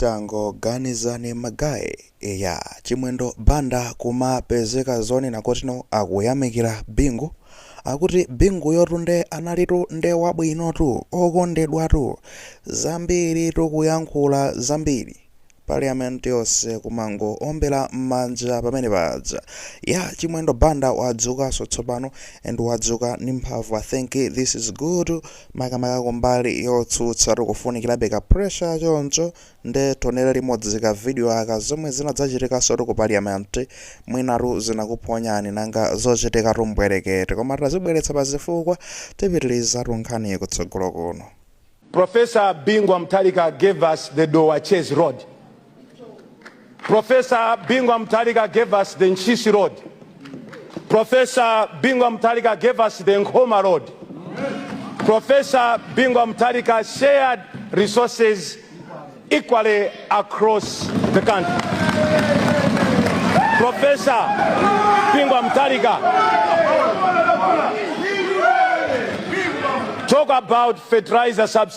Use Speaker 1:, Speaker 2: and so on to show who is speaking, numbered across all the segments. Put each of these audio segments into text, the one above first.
Speaker 1: Tangoganizani ma guye a Chimwendo banda kumapezeka zonena kuti no akuyamikila bingu akuti binguyotu nde analitu nde wabwinotu okondedwatu zambiritu kuyankhula zambiri parliament yonse kumango ombela mmanja pamene paja a Chimwendo banda wadzukanso tsopano and wadzuka ndi mphamvu i think this is good makamaka kumbali yotsutsa tikufunikirabe ka pressure ya choncho nde tionere limodzi ka video aka zomwe zinadzachitikansotu ku parliament mwinatu zinakuphonyani nanga zochitikatu mbwerekete koma tazibweretsa pa zifukwa tipitirizatu nkhaniyi kutsogolo kuno. Professor
Speaker 2: Bingu Wa Mutharika gave us the Dowa Chezi Road Professor Bingwa Mutharika gave us the Ntchisi Road. Professor Bingwa Mutharika gave us the Nkhoma Road. Professor Bingwa Mutharika shared resources equally across the country. Professor Bingwa Mutharika talk about fertilizer subsidy.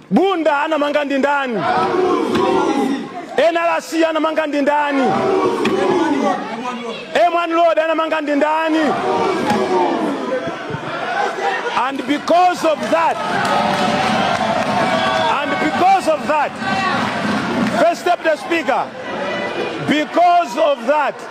Speaker 2: Bunda anamanga ndi ndani? NRC anamanga ndi ndani? M1 road anamanga ndi ndani? And because of that, and because of that, first Deputy Speaker, because of that,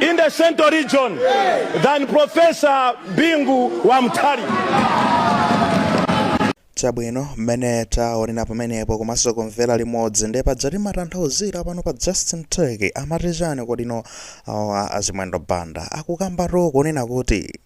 Speaker 2: in the central region than Professor Bingu wa
Speaker 1: Mutharika. chabwino mmene taonera pamenepo komanso kumvera limodzi ndi pajatu timatanthauzira pano pa justin turkey amati chani kodino awa a Chimwendo banda akukambatu kunena kuti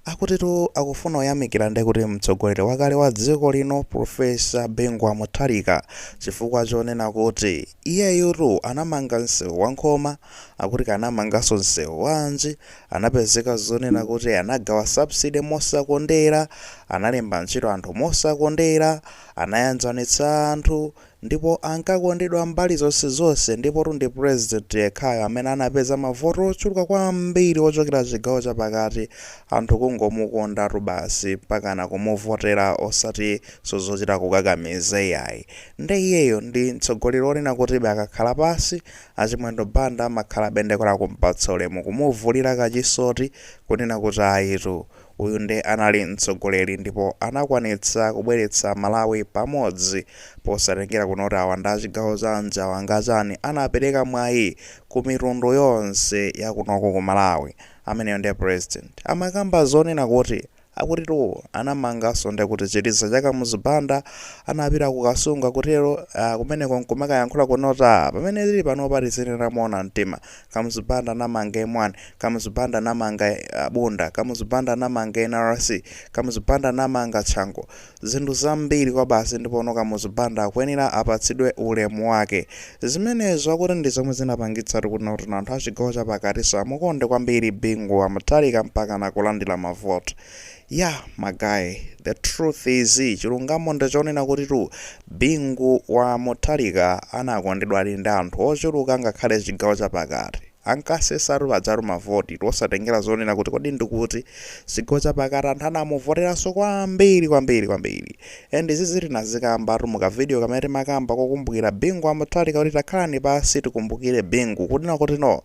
Speaker 1: Akutitu akufuna ayamikire nde kuti mtsogoleri wakale wa dziko lino Prof. Bingu wa Mutharika chifukwa chonena kuti iyeyutu anamanga msewu wa Nkhoma, akuti anamanganso msewu wanji, anapezeka zonena kuti anagawa subsidy mosakondera, analemba ntchito anthu mosakondera, anayanjanitsa anthu, ndipo ankakondedwa mbali zonse zonse ndipotu ndi president yekhayo amene anapeza mavoti ochuluka kwambiri kuchokera chigawo chapakati anthu kungomukondatu basi mpakana kumuvotera osati zozochita kukakamiza iyayi nde iyeyo ndi mtsogoleri onena kutibe akakhala pansi achimwendo banda amakhalabe nde kora kumpatsa ulemu kumuvulira kachisoti kunena kuti ayitu Uyu nde anali mtsogoleri ndipo anakwanitsa kubweretsa Malawi pamodzi posatengera kunena kuti awa ndi achigawo chanji awa nga chani anapereka mwayi ku mitundu yonse yakunoko ku Malawi ameneyo nde president. Amakamba zonena kuti akutitu anamanganso nde kuti chiliza cha Kamuzu Banda anapita ku Kasungu akutero aah kumeneko nkumakayankhula kunena kuti aah pamene tili panopa tizinena moona mtima Kamuzu Banda anamanga M1, Kamuzu Banda anamanga Bunda, Kamuzu Banda anamanga NRC, Kamuzu Banda anamanga Chanco. Zinthu zambiri kwabasi ndipo Kamuzu Banda akuyenera apatsidwe ulemu wake. Zimenezo akuti ndi zomwe zinapangitsatu kuti nawonso anthu a chigawo chapakatinso amukonde kwambiri Bingu wa Mutharika mpakana kulandira mavoti. Yah my guy the truth is chilungamo ndi chonena kutitu Bingu wa Muthalika anakondedwadi ndi anthu ochuluka ngakhale chigawo chapakati. Ankasesatu pajatu ma vote tu osatengera zonena kuti kodi ndikuti. Chigawo chapakati anthu anamuvoteranso kwambiri kwambiri kwambiri. And izizi tinazikambatu mu ka video kamene timakamba kokumbukira Bingu wa Mutharika kuti takhalani pansi tikumbukire Bingu kunena kuti no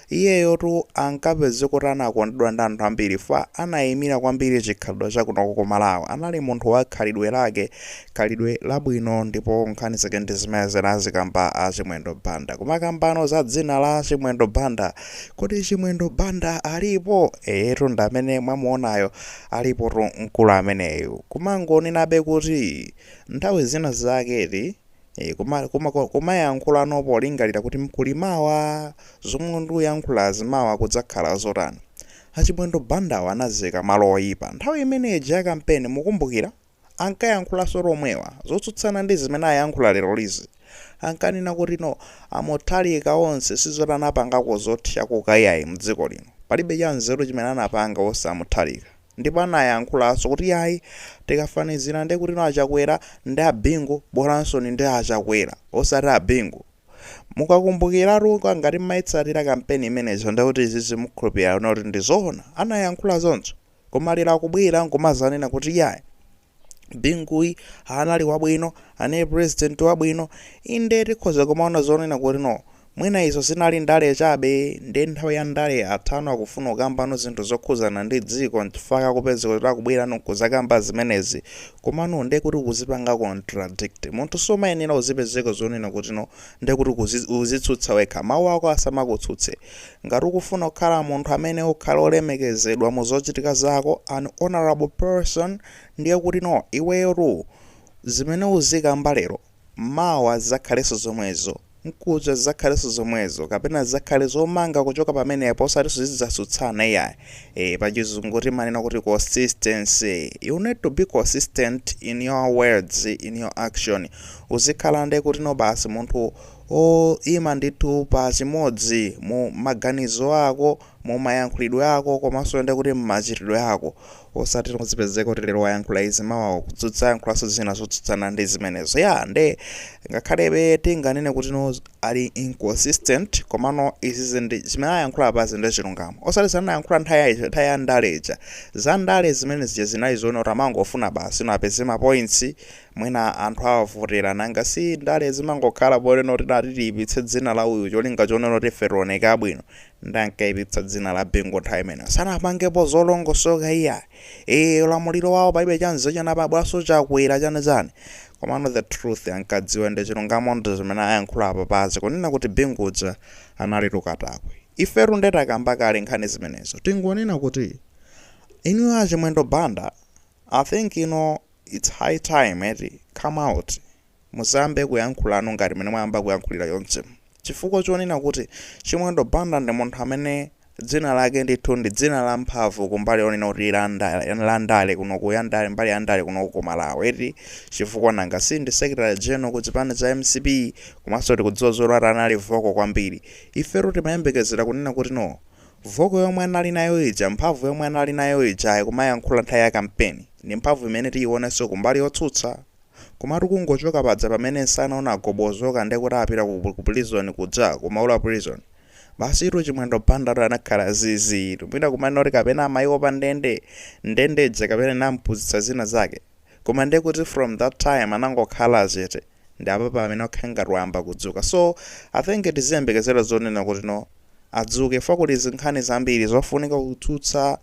Speaker 1: iyeyotu ankapezeka kuti anakondedwa ndi anthu ambiri fa anayimira kwambiri chikhalidwe cha kunoko ku Malawi anali munthu wa khalidwe lake khalidwe labwino ndipo nkhani zake ndi zimene anazikamba a Chimwendo Banda kumakambano za dzina la Chimwendo Banda kodi Chimwendo Banda alipo eyetu ndamene mwamuonayo Alipotu mkulu ameneyo kumangonenabe kuti nthawi zina zake eti e, kuma, kuma, kumayankhulano polingalira kuti kuli mawa zomwe ndikuyankhulazi mawa kudzakhala zotani. Achimwendo Bandawa anaziika malo oyipa nthawi imene ija ya kampeni mukumbukira? ankayankhulanso omwewa zotsutsana ndi zimene ayankhula leroli zi ankanena kuti no a muthalika onse sizoti anapangako zothyakuka iyayi mdziko lino palibe cha nzeru chimene anapanga onse a muthalika ndipo anayankhulanso kuti yayi tikafanizila nde kuti no a chakwera ndi a bingu bolanso ndi a chakwera osati a bingu mukakumbukilatu ngati mmayitsatira kampeni imeneja ndekuti izizi mukhulupilira kuti ndi zoona anayankhula choncho Koma lero akubwera nkumazanena kuti iyayi Binguyu anali wabwino, anali president wabwino, inde tikhoza kumaona zonena kuti no mwina izo zinali ndale chabe nde nthawi ya ndale yathano akufuna kukambano zinthu zokhuzana ndi dziko nchifukwa akupezeka kuti akubwerano nkuzakamba zimenezi koma no nde kuti ukuzipanga contradict. Munthu sumayenera uzipezeka zonena kuti no nde kuti uzitsutsa wekha, mawu ako asamakutsutse. Ngati ukufuna kukhala munthu amene ukhale olemekezedwa mu zochitika zako, an honorable person, ndiye kuti no iweyotu zimene uzikamba lero, mawa zizakhalenso zomwezo, mkuja zizakhalenso zomwezo kapena zizakhale zomanga kuchoka pamenepo osatinso zidzatsutsana iyayi, ee pachizungu timanena kuti consistency, you need to be consistent in your words, in your action, uzikhala nde kuti no basi munthu oima ndithu pa chimodzi, mu maganizo ako, mu mayankhulidwe ako, komanso ndi kuti mmachitidwe ako. Osatino uzipezeka kuti lero wayankhula izi mawa kudzayankhulanso zina zotsutsana ndi zimenezo. Ya, nde ngakhalebe tinganene kuti no ali inconsistent, komano izizi ndi zimene ayankhula apazi ndi chilungamo. Osati zimene anayankhula nthawi ya ija, nthawi ya ndale ija. Za ndale zimene zija zinali zoona kuti amangofuna basi no apeze mapointsi, Mwina anthu awavotera nanga si ndale zimangokhala ponena kuti tati tiyipitse dzina la uyu cholinga chonena kuti ife tioneke abwino nde ankayipitsa dzina la Bingu nthawi imeneyo sanapangepo zolongosoka iyayi ee ulamuliro wawo palibe chanzeru china pabwanso chakwera chani chani komano the truth ankadziwa ndi chilungamo ndi zimene ayankhula apapazi, kunena kuti Bingu uja analitu katakwe ifetu nde takamba kale nkhani zimenezo tingonena kuti inuyo a Chimwendo Banda I think you know Its high time eti, come out muziyambe kuyankhulano ngati mene mwayamba kuyankhulira chonchimu chifukwa chonena kuti chimwendo banda ndi munthu amene dzina lake ndithu ndi dzina la mphamvu kumbali yonena kuti la ndale, la ndale kuno ku ya ndale mbali ya ndale kunoku ku malawi eti chifukwa nanga si ndi secretary general ku chipani cha mcp komanso tikudziwa zoti anali vocal kwambiri ifetu timayembekezera kunena kuti no Voko yomwe anali nayo ija, mphamvu yomwe anali nayo ija akumayankhula nthawi ya kampeni, ndi mphamvu imene tiyionenso ku mbali yotsutsa? Komatu kungochoka paja pamene nsana unagobodoka nde kuti apita ku ku prison kuja, ku Maula prison. Basitu Chimwendo Bandatu anakhala ziiziitu. Mwina kumanena kuti kapena amaiopa ndende, ndende ija kapena inamupuzitsa zina zake. Koma nde kuti from that time anangokhala chete. ndi apa pamene akukhala ngati wayamba kudzuka so i think tiziyembekezera zonena kuti no adzuke chifukwa kuli zinkhani zambiri zofunika kutsutsa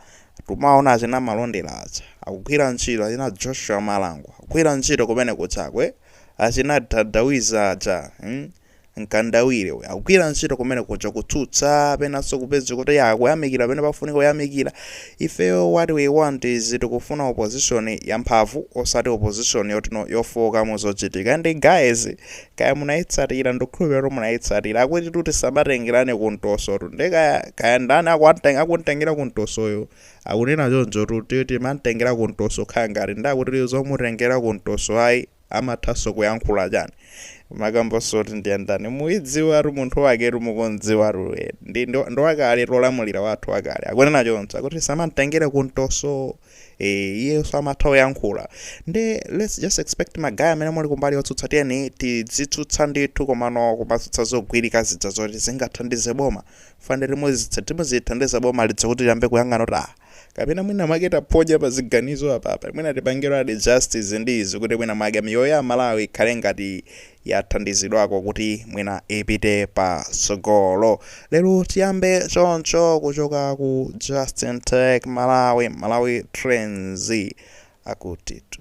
Speaker 1: tumaona achina malondera aja akugwira ntchito achina joshua malango akugwira ntchito kumene kuchakwe achina dadawiza aja mm? Mkandawire uyu akugwira ntchito kumene kuja kutsutsa penanso kupeza kuti ya akuyamikira pene pafunika kuyamikira. Ifeyo what we want is tikufuna opposition yamphamvu osati opposition yotino yofooka mu zochitika. And guys kaya munayitsatira ndikukhulupirira kuti munayitsatira akutitu tisamatengerane ku mtosotu nde kaya kaya ndani akuwateng- akumtengera ku mtosoyo akunena chonchotu kuti timamtengera ku mtoso khala ngati ndi akuti zomutengera ku mtoso ayi amathanso kuyankhula chani kumakambanso kuti ndiye ndani muidziwatu munthu waketu mukumdziwatu eh, ndi ndi- ndi wakale mtolamulira wathu wakale akunena choncho akuti tisamamtengere kumtoso eh, iyenso amatha kuyankhula nde let's just expect ma guy amene muli kumbali yotsutsa tiyeni tizitsutsa ndithu komano kumatsutsa zogwirika zija zoti zingathandize boma mukufunika muzithandiza boma lija kuti liyambe kuyang'ana kuti ah kapena mwina mwake taphonya pa ziganizo apapa, mwina tipangeradi just izi ndi izi kuti mwina mwake miyoyo ya aMalawi ikhale ngati yathandizidwako kuti mwina ipite pa tsogolo. Lero tiyambe choncho kuchoka ku Justin Tech Malawi, Malawi Trends akutitu.